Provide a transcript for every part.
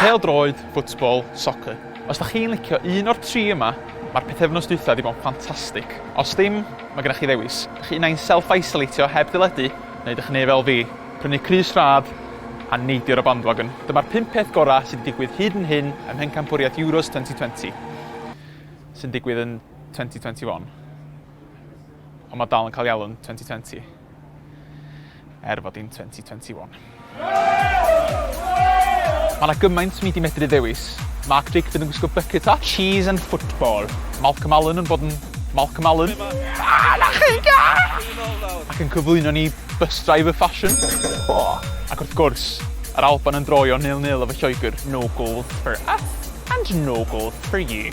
Pêl-droed, football, soccer. Os dach chi'n licio un o'r tri yma, mae'r pythefnos dwytha di bod yn ffantastig. Os dim, mae gennych chi ddewis. Dych chi unai'n self-isolatio heb deledu, neu dych chi'n neu fel fi, prynu crys rhad a neidio ar y bandwagon. Dyma'r pump peth gorau sydd di digwydd hyd yn hyn ym mhencampwriaeth Euros 2020, sy'n digwydd yn 2021. Ond mae dal yn cael ei alw'n 2020. er fod hi'n 2021. Mae yna gymaint mi di medru ddewis. Mark Drakeford yn gwisgo bucket hat. Cheese and football. Malcolm Allen yn bod yn Malcolm Allen. Ah, na chi! Ac yn cyflwyno ni bus driver fashion. Ac wrth gwrs, yr Alban yn droio nil-nil efo Lloegr. No goals for us. And no gold for you.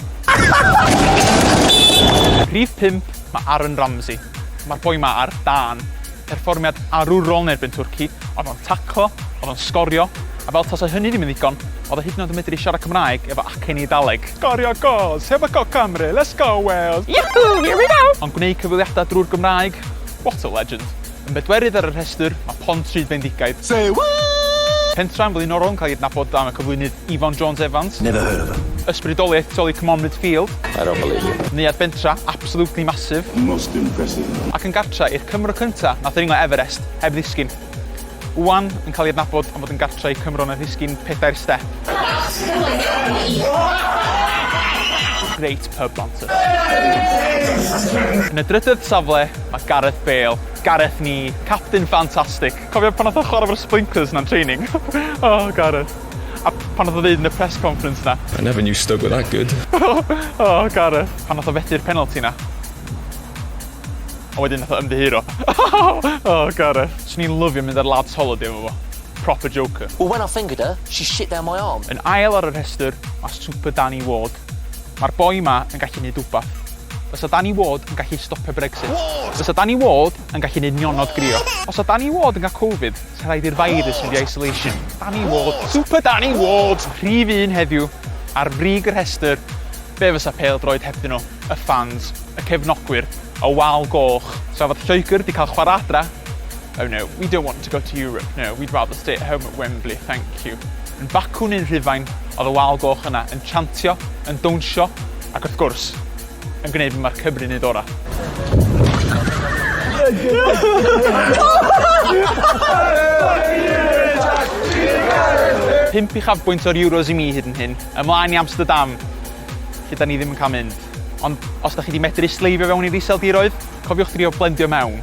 Rhif pump, mae Aaron Ramsey. Mae'r boi 'ma ar dân. Perfformiad arwrol yn erbyn Twrci, oedd o'n taclo, oedd o'n sgorio, a fel tasa hynny ddim yn ddigon, oedd o hyd yn oed yn medru siarad Cymraeg efo acen Eidaleg! Sgorio gols! Heb y Coc Cymru! Let's go Wales! Yahoo! Here we go! Ond gwneud cyfweliadau drwy'r Gymraeg? What a legend! Yn bedwerydd ar y rhestr mae Pontypridd Bendigaid. Say what? Pentre'n flaenorol yn cael ei adnabod am y cyflwynydd Ifon Jones Evans. Never heard of him. Ysbrydoliaeth tu ol i Comonfyd Field. I don't believe you. Neuadd bentra absolutely massive. Most impressive. Ac yn gartre i'r Cymro cynta nath ddringo Everest heb ddisgyn. Ŵan yn cael ei adnabod am fod yn gartre i Cymro nath ddisgyn pedair step. Reit. Hub Manchester. Yn y drydedd safle, mae Gareth Bale. Gareth ni, capten ffantastig. Cofio pan nath o chwarae efo'r sprinklers na'n training? O, Gareth. A pan nath o ddeud yn y press conference 'na? I never knew Stoke were that good. O, Gareth. Pan nath o fethu'r penalty 'na. Ond wedyn nath o ymddiheuro. O, Gareth. Swn i'n lyfio mynd ar lads holiday efo fo. Proper joker. Well when I fingered her, she shit down my arm. Yn ail ar y rhestr, mae Super Danny Ward. Mae'r boi 'ma yn gallu neud wbath. Fysa Danny Ward yn gallu stopio Brexit? Ward! Fysa Danny Ward yn gallu neud nionod grio? Os sa Danny Ward yn cael Covid, sa rhaid i'r virus fynd i isolation. Danny Ward! Super Danny Ward! Rhif un heddiw, ar frig y rhestr, be fysa pêl-droed hebddyn nhw? Y fans, y cefnogwyr, y wal goch. Sa fod Lloegr 'di cael chwarae adra, Oh no, we don't want to go to Europe, no, we'd rather stay at home at Wembley, thank you. Yn bacwn un Rhufain oedd y wal goch yna yn chantio, yn dawnsio ac wrth gwrs, yn gwneud be mae'r Cymru'n neud orau. Pump uchafbwynt o'r Euros i mi hyd yn hyn, ymlaen i Amsterdam, lle da ni ddim yn cael mynd. Ond os da chi wedi medru sleifio fewn i'r iseldiroedd, cofiwch drio blendio mewn.